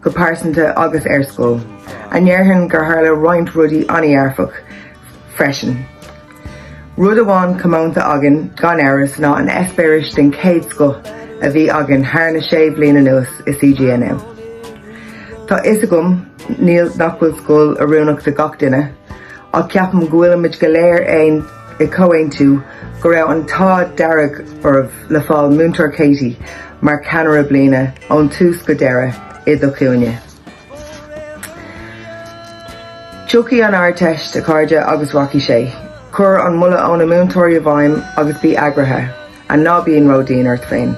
go pearsanta agus ar scoil, ach déarfainn gur tharla roinnt rudaí an-dhearfach freisin. Rud amháin comónta againn gan amhras ná an eispéireas den chéad scoth a bhí againn thar na sé bhliain anuas i CGNM. Tá fhios agam níl, nach bhfuil scoil oiriúnach do gach duine, ach ceapaim go bhfuilimid go léir aon i gcomhaontú go raibh an t-ádh dearg oraibh le fáil Múinteoir Katie mar Cheannaire Bliana ón tús go deireadh i do chúinne. Tiocfaidh an Ardteist, a chairde, agus rachaidh sé. Cuir an moladh ó na múinteoirí i bhfeidhm agus bí eagraithe, and ná bíonn ródhian ort féin.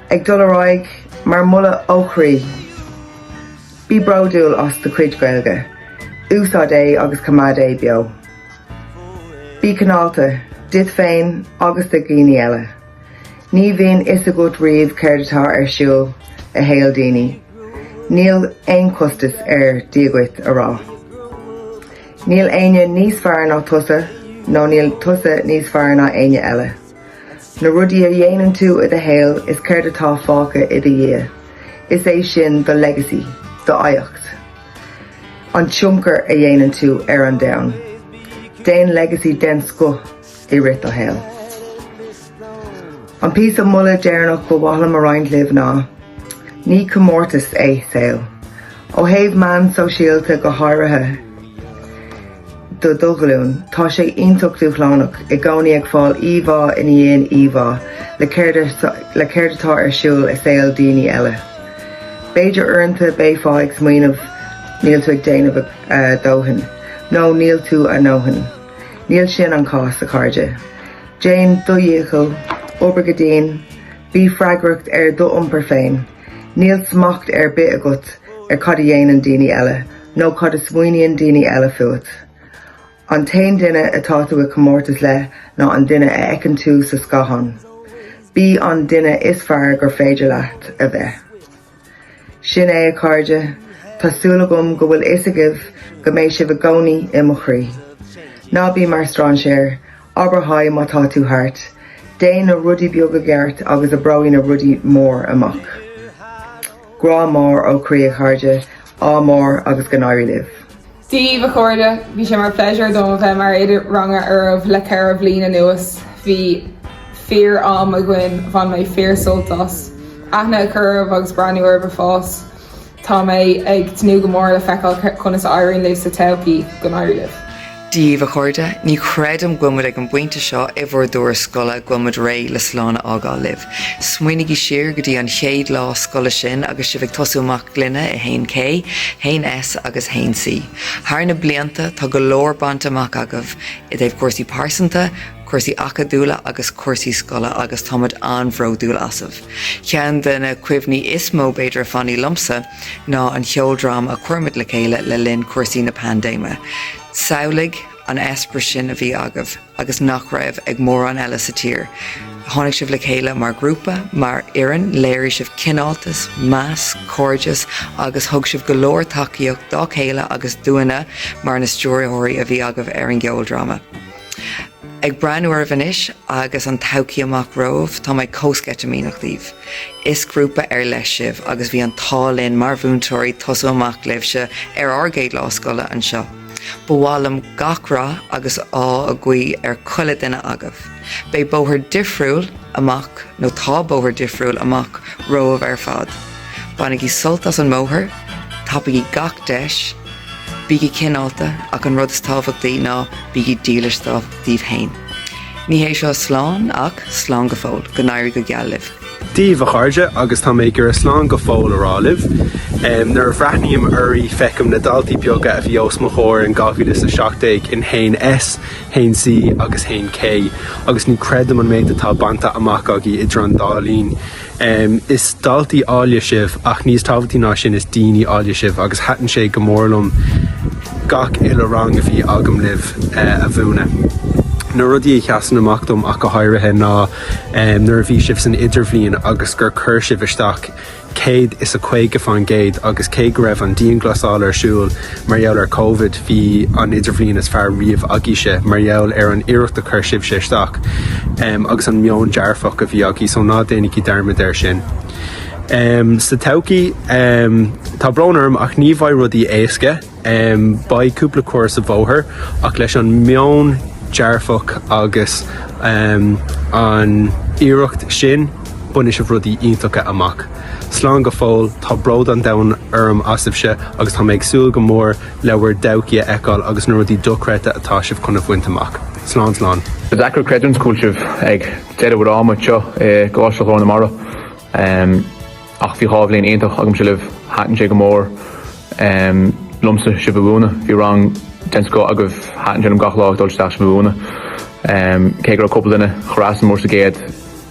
Ag dul ar aghaidh, mar mholadh ó chroí, Bí bródúil as do chuid Gaeilge, úsáid é agus coimeád é beo. Bí cineálta, duit féin agus do dhaoine eile. Ní bhíonn fhios agat riamh céard atá ar siúl i shaol daoine. Níl aon chostas ar Dia dhuit a rá. Níl éinne níos fearr ná tusa nó níl tusa níos fearr ná éinne eile. Na rudaí a dhéanann tú i do shaol is céard atá fágtha i do dhiaidh, is é sin do legacy, do oidhreacht. An tionchar a dhéanann tú ar an domhan. Déan legacy den scoth i rith do shaoil. An píosa moladh deireanach ba mhaith liom a roinnt libh ná, ní comórtas é saol, ó thaobh meán sóisialta go háirithe. do do ghlúin. Tá sé iontach dúshlánach i gcónaí ag fáil íomhá ina dhiaidh íomhá le céard atá ar siúl i saol daoine eile. B'fhéidir uaireanta beifeá ag smaoineamh níl tú ag déanamh a dóthain nó níl tú a ndóthain. Níl sin an cás a chairde. Déan do dhícheall, obair go dian, bí freagracht ar do iompar féin. Níl smacht ar bith agat ar cad a dhéanann daoine eile nó cad a smaoiníonn daoine eile fút. An t-aon duine atá tú i gcomórtas le ná an duine a fheiceann tú sa scáthán. Bí an duine is fearr gur féidir leat a bheith. Sin é, a chairde. Tá súil agam go bhfuil fhios agaibh go mbeidh sibh i gcónaí i mo chroí. Ná bí mar strainséir Abair haigh má tá tú thart. Déan na rudaí beaga gceart agus oibreoidh na rudaí mór amach. Grá mór ó chroí a chairde, ádh mór agus go n-éirí libh. Dia daoibh, a chairde, bhí sé mar pléisiúr dom a bheith mar oide ranga oraibh le ceithre bhliain anuas. Bhí fíor am againn, bhain mé fíor sult as. Aithne a cur oraibh agus breathnú oraibh ag fás. Tá mé ag tnúth go mór le feiceáil conas a éiríonn libh sa todhchaí. Go n-éirí libh. Dia daoibh, a chairde, ní chreidim go bhfuil muid ag an bpointe seo i bhur dturas scoile go bhfuil muid réidh le slán a fhágáil libh. Smaoinigí siar go dtí an chéad lá scoile sin agus sibh ag tosú amach linne i 1K, 1S agus 1C. Thar na blianta, tá go leor bainte amach agaibh i dtaobh cúrsaí pearsanta, cúrsaí acadúla agus cúrsaí scoile agus tá muid an-bhródúil asaibh. Ceann de na cuimhní is mó, b'fhéidir, a fhanfaidh liomsa ná an cheoldráma a chuir muid le chéile le linn chúrsaí na paindéime. Samhlaigh an t-eispéireas sin a bhí agaibh agus nach raibh ag mórán eile sa tír. Tháinig sibh le chéile mar ghrúpa, mar fhoireann, léirigh sibh cineáltas, meas, cairdeas agus thug sibh go leor tacaíocht dá chéile agus dúinne mar na stiúrthóirí a bhí agaibh ar an gceoldráma. Ag breathnú oraibh anois agus an todhchaí amach romhaibh, tá mé chomh sceitimíneach daoibh. Is grúpa ar leith sibh agus bhí an t-ádh linn mar mhúinteoirí tosú amach libhse ar ár gcéad lá scoile anseo. Ba mhaith liom gach rath agus ádh a ghuí ar chuile duine agaibh. Beidh bóthar difriúil amach nó tá bóthar difriúil amach romhaibh ar fad. Bainigí sult as an mbóthar, tapaígí gach deis, bígí cineálta ach an rud is tábhachtaí ná bígí dílis daoibh féin. Ní hé seo slán ach slán go fóill. Go n-éirí go geal libh. Dia daoibh, a chairde, agus tá mé ag iarraidh slán go fóill a rá libh. Nuair a bhreathnaím oraibh feicim na daltaí beaga a bhí os mo chomhair in 2017 in 1S, 1C agus 1K agus ní creidim an méid atá bainte amach agaibh idir an dá linn. Is daltaí áille sibh ach níos tábhachtaí ná sin is daoine áille sibh agus thaitin sé go mór liom gach uile rang a bhí agam libh a mhúineadh. Na rudaí a sheasann amach dom ach go háirithe ná nuair a bhí sibh san idirbhliain agus gur chuir sibh isteach céad is a caoga faoin gcéad agus cé go raibh an dianghlasáil ar siúl Mar gheall ar Covid bhí an idirbhliain is fearr riamh agaibhse. Mar gheall ar an iarracht a chuir sibhse isteach agus an meon dearfach a bhí agaibh só ná déanaigí dearmad air sin sa todhchaí. Tá brón orm ach ní bheidh rudaí éasca. Beidh cúpla cor sa bhóthar ach leis an meon dearfach agus an iarracht sin bainfidh sibh rudaí iontacha amach. Slán go fóill, tá bród an domhain orm asaibhse agus tá mé ag súil go mór le bhur dtodhchaí a fheiceáil agus na rudaí dochreidte atá sibh chun a bhaint amach. Slán, slán. Is deacair creidiúint go bhfuil sibh ag deireadh bhur ama anseo i gColáiste Ghlór na Mara ach bhí dhá bhliain iontach agamsa libh, thaitin sé go mór liomsa sibh a mhúineadh, bhí rang den scoth agaibh, thaitin sé liom gach lá ag dul isteach sibh a mhúineadh cé go raibh cúpla duine craosánach mór sa gcéad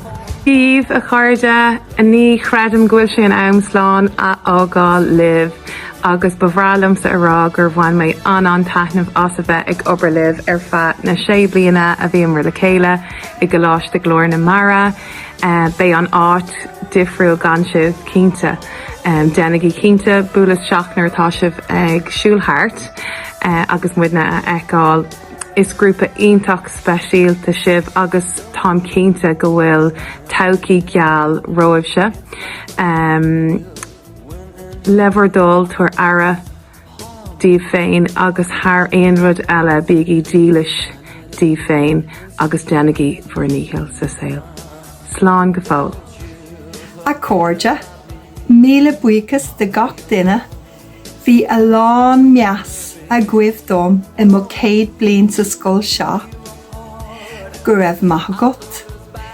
Daoibh, a chairde, ní chreidim go bhfuil sé in am slán a fhágáil libh agus ba bhreá liomsa a rá gur bhain mé an-an-taitneamh as a bheith ag obair libh ar feadh na sé bliana a bhíomar le chéile i gColáiste Ghlór na Mara. Beidh an áit difriúil gan sibh, cinnte. Déanaigí cinnte buail isteach nuair atá sibh ag siúl thart agus muidne a fheiceáil. Is grúpa iontach speisialta sibh agus táim cinnte go bhfuil todhchaí gheal romhaibhse. Le bhur dtoil, tabhair aire díobh féin agus thar aon rud eile bígí dílis díobh féin agus déanaigí bhur ndícheall sa saol. Slán go fóill. A chairde, Míle buíochas do gach duine Bhí a lán meas agaibh dom i mo chéad bliain sa scoil seo. Go raibh maith agat.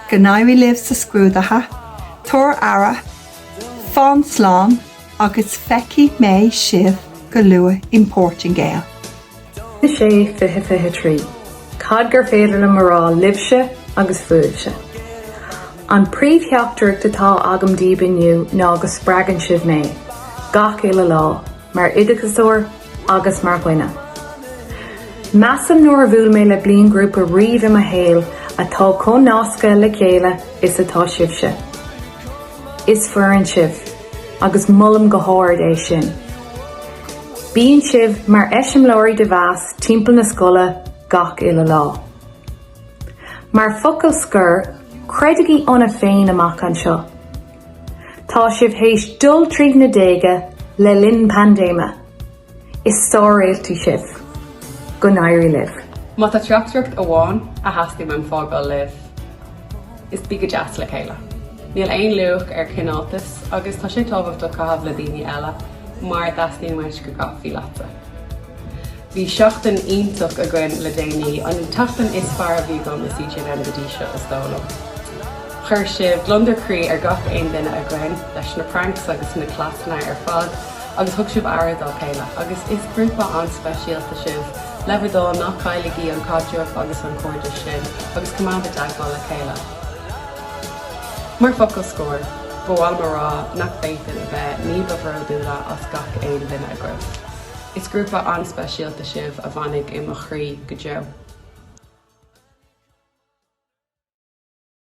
Go n-éirí libh sa scrúdaithe. Tabhair aire. Fan slán agus feicfidh mé sibh go luath in Portingale. 6, 20, 23. Cad gur féidir liom a rá libhse agus fúibhse? An príomhtheachtaireacht atá agam daoibh inniu ná go spreagann sibh mé, gach uile lá, mar oideachasóir agus mar dhuine. Measaim nár bhuail mé le bliainghrúpa riamh i mo shaol atá chomh nasctha le chéile is atá sibhse. Is foireann sibh agus molaim go hard é sin. Bíonn sibh mar eiseamláirí den mheas timpeall na scoile gach uile lá. Mar focal scoir, creidigí ionaibh féin amach anseo. Tá sibh théis dul tríd na déaga le linn paindéime Is sáréaltaí sibh. Go n-éirí libh. Má tá teachtaireacht amháin a theastaíonn uaim fágáil libh, is Bí go deas le chéile. Níl aon luach ar chineáltas agus tá sé tábhachtach caitheamh le daoine eile mar a theastaíonn uait go gcaithfí leatsa. Bhí seachtain iontach againn le déanaí, an tseachtain is fearr a bhí agam i CGNM go dtí seo is dóigh liom. Chuir sibh gliondar croí ar gach aon duine againn leis na pranks agus na cleasanna ar fad. agus thug sibh aire dá chéile, agus is grúpa an-speisialta sibh, le bhur dtoil, ná cailligí an caidreamh agus an cairdeas sin, agus coimeád i dteagmháil le chéile. Mar focal scoir, ba mhaith liom a rá nach bhféadfainn a bheith ní ba bhródúla as gach aon duine agaibh. Is grúpa an-speisialta sibh a fhanfaidh i mo chroí go deo.